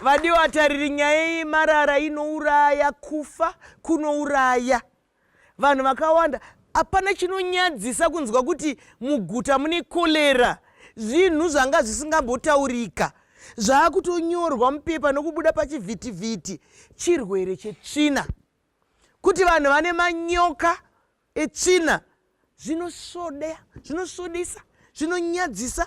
vadiwa tariri nyaya yemarara inouraya kufa kunouraya vanhu vakawanda hapana chinonyadzisa kunzwa kuti muguta mune kolera zvinhu zvanga zvisingambotaurika zvaakutonyorwa mupepa nokubuda pachivhitivhiti chirwere chetsvina kuti vanhu vane manyoka etsvina zvinosvodea zvinosvodisa zvinonyadzisa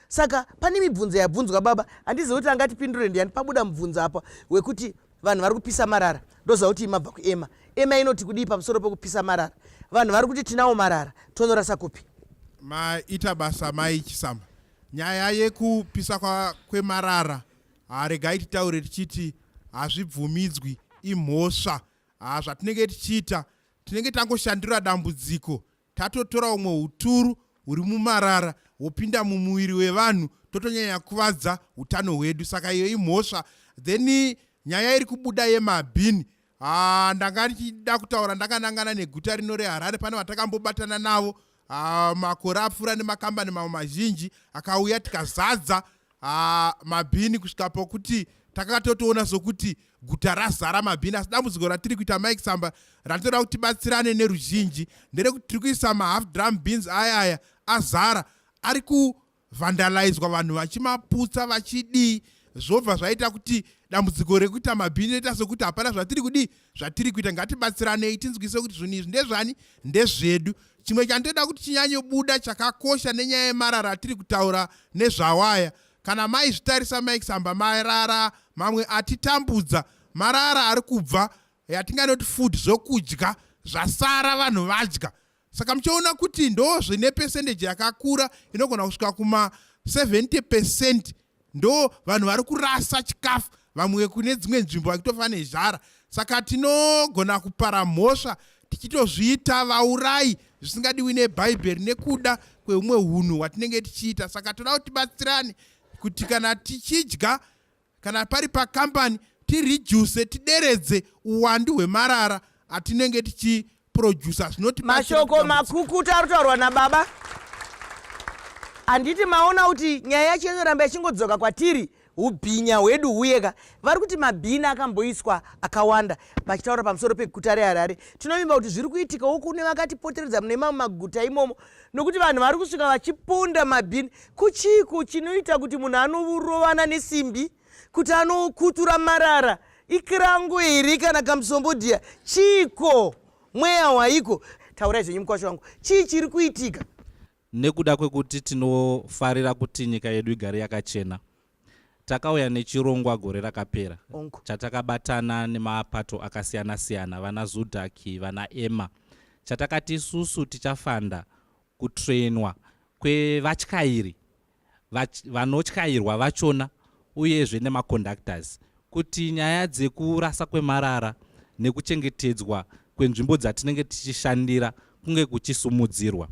saka pane mibvunzo yabvunzwa baba handizivi kuti angatipindure ndiani pabuda mubvunzo apa wekuti vanhu vari kupisa marara ndoziva kuti imabva kuema ema inoti kudii pamusoro pekupisa marara vanhu vari kuti tinawo marara tonorasa kupi maita basa mai chisamba nyaya yekupisa kwemarara haregai titaure tichiti hazvibvumidzwi imhosva hazvatinenge tichiita tinenge tangoshandura dambudziko tatotora umwe uturu huri mumarara hopinda mumuviri wevanhu totonyanya kuvadza utano hwedu saka iyo imhosva then nyaya iri kubuda yemabhini ah, ndanga ndichida kutaura ndakanangana neguta rino reharare pane vatakambobatana navo Ah, makore apfuura nemakambani mamwe mazhinji akauya tikazadza ah, mabhini kusvika pokuti takanga totoona sokuti guta razara mabhini asi dambudziko ratiri kuita mike samba ratinoda kuti tibatsirane neruzhinji nderekuti tiri kuisa mahalf drum beans aya aya azara ari ku vandalaizwa vanhu vachimaputsa vachidii zvobva zvaita kuti dambudziko rekuita mabhini roita sekuti hapana zvatiri kudii zvatiri kuita ngatibatsiranei tinzwise kuti zvinhu izvi ndezvani ndezvedu chimwe chandoda kuti chinyanyobuda chakakosha nenyaya yemarara atiri kutaura nezvawaya kana maizvitarisa maisamba marara mamwe atitambudza marara ari kubva yatinganoti food zvokudya zvasara vanhu vadya saka muchaona kuti ndo zvine pesendeji yakakura inogona kusvika kuma 70 pecent ndo vanhu vari kurasa chikafu vamwe kune dzimwe nzvimbo vakitofa nezhara saka tinogona kupara mhosva tichitozviita vaurai zvisingadiwi nebhaibheri nekuda kweumwe unhu hwatinenge tichiita saka toda kuti tibatsirane kuti kana tichidya kana pari pakambani tireduce tideredze uwandu hwemarara atinenge tichiproducer zvinoti mashoko makukuta ari kutaurwa nababa handiti maona kuti nyaya yacho inoramba ichingodzoka kwatiri ubhinya hwedu huye ka vari kuti mabhini akamboiswa akawanda vachitaura pamusoro peguta reharare tinovimba kuti zviri kuitikawo kune vakatipoteredza mune mamwe maguta imomo nokuti vanhu vari kusvika vachipunda mabhini kuchiiko chinoita kuti munhu anorovana nesimbi kuti anokutura marara ikirango here kana kamusombodhiya chiiko mweya waiko taurai zvenyu mukwasha wangu chii chiri kuitika nekuda kwekuti tinofarira kuti nyika yedu igare yakachena Takauya nechirongwa gore rakapera chatakabatana nemapato akasiyana siyana vana Zudaki, vana Emma chatakati isusu tichafanda kutrainwa kwevatyairi vanotyairwa vachona uyezve nemaconductors kuti nyaya dzekurasa kwemarara nekuchengetedzwa kwenzvimbo dzatinenge tichishandira kunge kuchisumudzirwa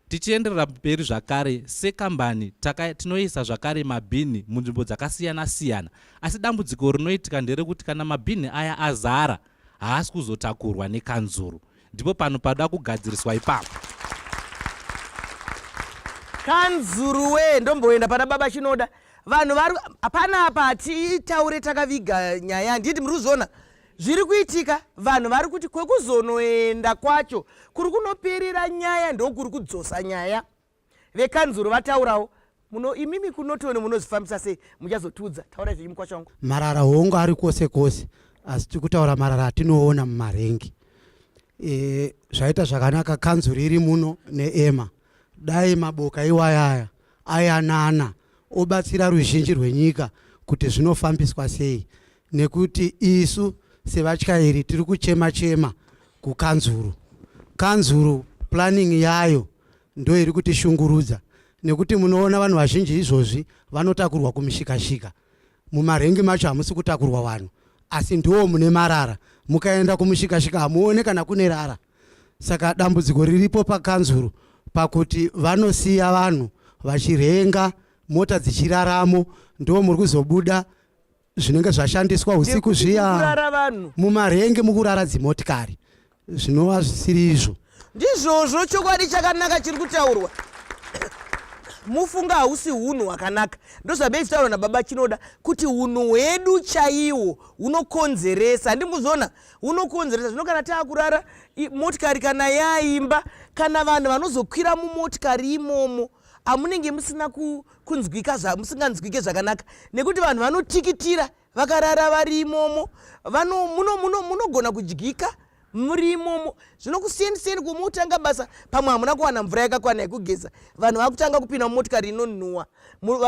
Tichienderera mberi zvakare, sekambani taka, tinoisa zvakare mabhinhi munzvimbo dzakasiyana siyana, asi dambudziko rinoitika nderekuti kana mabhinhi aya azara haasi kuzotakurwa nekanzuru. Ndipo pano panoda kugadziriswa ipapo. Kanzuru wee, ndomboenda pana baba Chinoda vanhu vari hapana apa hatitaure takaviga nyaya handiti muri kuzviona zviri kuitika vanhu vari kuti kwekuzonoenda kwacho kuri kunoperera nyaya ndokuri kudzosa nyaya vekanzuro vataurawo muno imimi kunotoni munozvifambisa sei muchazotiudza taura zvenyu mukwacho wangu marara hongu ari kwose kwose asi tiri kutaura marara atinoona mumarengi e, zvaita zvakanaka kanzuro iri muno neema dai maboka iwayaya ayanana obatsira ruzhinji rwenyika kuti zvinofambiswa sei nekuti isu sevatyairi tiri kuchema chema kukanzuru kanzuru planning yayo ndo iri kutishungurudza nekuti munoona vanhu vazhinji izvozvi vanotakurwa kumishikashika mumarengi macho hamusi kutakurwa vanhu asi ndiwo mune marara mukaenda kumushikashika hamuone kana kune rara saka dambudziko riripo pakanzuru pakuti vanosiya vanhu vachirenga mota dzichiraramo ndo muri kuzobuda zvinenge zvashandiswa husiku zviya mumarenge mukurara dzimotikari zvinova zvisiri izvo ndizvozvo chokwadi chakanaka chiri kutaurwa mufunga hausi unhu hwakanaka ndozvabei zvitaurwa nababa chinoda kuti unhu hwedu chaiwo hunokonzeresa handimuzona hunokonzeresa zvino kana taakurara motikari kana yaimba kana vanhu vanozokwira mumotikari imomo amunenge musina ku kunzwika zvamusinganzwike zvakanaka nekuti vanhu vanotikitira vakarara vari imomo munogona kudyika muri imomo zvino kusiyanisiyani kwomotanga basa pamwe hamuna kuwana mvura yakakwana yekugeza vanhu vakutanga kupinda mumotikari inonhuwa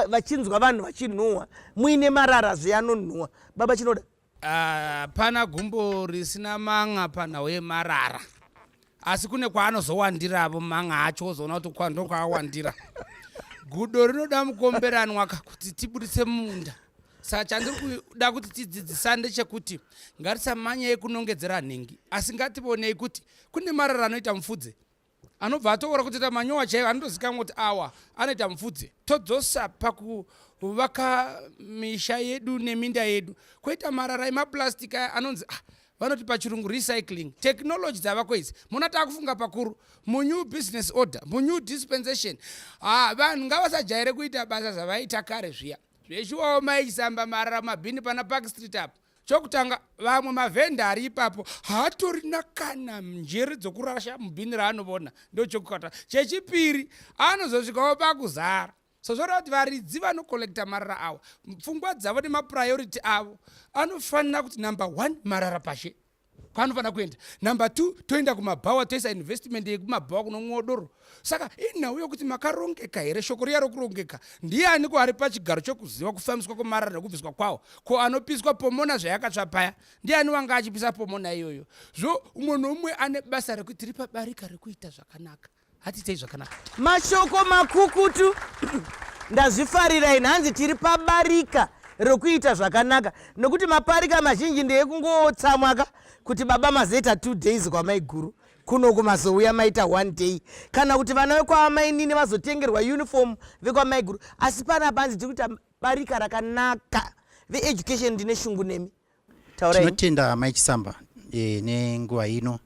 vachinzwa vanhu vachinhuwa muine marara zveanonhuwa baba chinoda hapana uh, gumbo risina manga panhau yemarara asi kune kwaanozowandiravo manga acho ozoona kuti kwando kwaawandira gudo rinoda mukomberanwa ka kuti tiburitse munda saka chandiri kuda kuti tidzidzisande chekuti ngatisamanyei kunongedzera nhingi asi ngativonei kuti kune marara anoita mufudze anobva atoora kutoita manyowa chaiyo anotozikanwa kuti awa anoita mupfudze todzosa pakuvaka misha yedu neminda yedu koita marara emaplastic aya anonzi ah, vanoti pachirungu recycling technology dzavako idzi mona taakufunga pakuru munew business order munew dispensation ha ah, vanhu ngavasajaire kuita basa zvavaiita kare zviya zveshuwawo maichisamba marara mabhini pana park street apo chokutanga vamwe mavhenda ari ipapo haatorina kana njere dzokurasha mubhini raanovona ndochokukata chechipiri anozosvikawo pakuzara sozvoreva kuti varidzi vanokollekta marara awa pfungwa dzavo nemapurayority avo anofanira kuti number one marara pashe kwaanofanira kuenda number two toenda kumabhawa toisa investment yekumabhawa kunomwiwa doro saka inhau yokuti makarongeka here shoko riya rokurongeka ndiani ko ari pachigaro chokuziva kufambiswa kwemarara nekubviswa kwawo ko anopiswa pomona zvayakatsva paya ndiani wanga achipisa pomona iyoyo zvo umwe noumwe ane basa rekuti tiri pabarika rekuita zvakanaka hatiitei zvakanaka mashoko makukutu ndazvifarira ini hanzi tiri pabarika rokuita zvakanaka nokuti maparika mazhinji ndeyekungotsamwaka kuti baba mazoita two days kwamaiguru kuno kumazouya maita one day kana kuti vana vekwamainini vazotengerwa uniform vekwamaiguru asi pana panzi tiri kuita barika rakanaka veeducation ndine shungu nemi tinotenda amai chisamba e, nenguva ino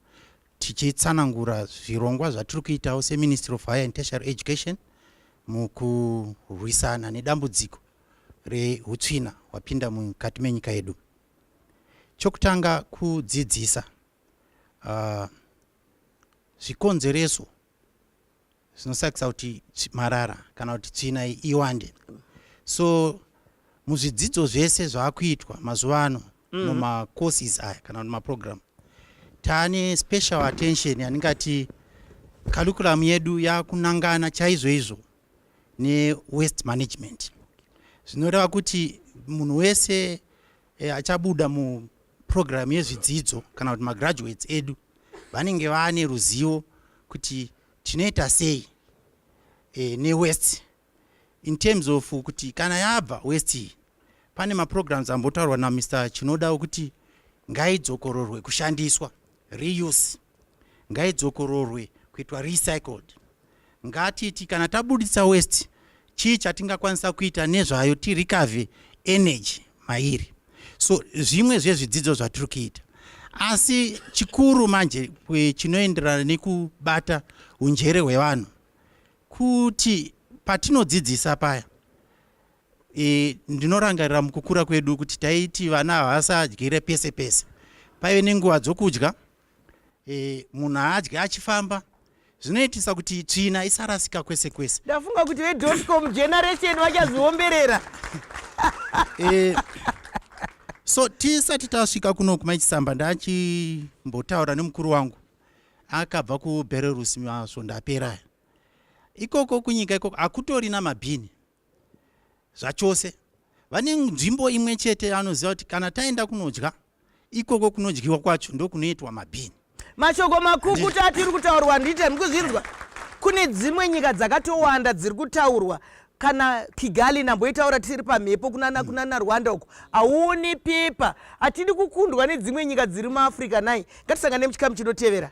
tichitsanangura zvirongwa zvatiri kuitawo seministry of higher and tertiary education mukurwisana nedambudziko reutsvina hwapinda mukati menyika yedu chokutanga kudzidzisa uh, zvikonzereso zvinosakisa kuti marara kana kuti tsvina iwande so muzvidzidzo zvese zvaakuitwa mazuva ano mm. mumacourses aya kana kuti maprogram taane special attention yandingati curriculum yedu yakunangana chaizvoizvo newest management zvinoreva kuti munhu wese e, achabuda muprogramu yezvidzidzo kana kuti magraduates edu vanenge vaane ruzivo kuti tinoita sei e, newest in terms of kuti kana yabva west iyi pane maprograms ambotaurwa namr chinoda okuti ngaidzokororwe kushandiswa reuse ngaidzokororwe kuitwa recycled ngatiti kana tabudisa west chii chatingakwanisa kuita nezvayo tirikave energy mairi so zvimwe zvezvidzidzo zvatiri kuita asi chikuru manje chinoenderana nekubata unjere hwevanhu kuti patinodzidzisa paya e, ndinorangarira mukukura kwedu kuti taiti vana havasadyire pese pese paive nenguva dzokudya e, munhu haadye achifamba zvinoitisa kuti tsvina isarasika kwese kwese ndafunga kuti vedotcom generation vachaziomberera e, so tisati tasvika kuno kumachisamba ndachimbotaura nemukuru wangu akabva kubelarus masvondo apera ikoko kunyika ikoko hakutori namabhini zvachose vane nzvimbo imwe chete anoziva kuti kana taenda kunodya ikoko kunodyiwa kwacho ndokunoitwa mabhini mashoko makukuta atiri kutaurwa ndiite mukuzvinzwa kune dzimwe nyika dzakatowanda dziri kutaurwa kana kigali namboitaura tiri pamhepo kunana mm. kunana rwanda uko hauoni pepa hatidi kukundwa nedzimwe nyika dziri muafrica nai ngatisangane muchikamu chinotevera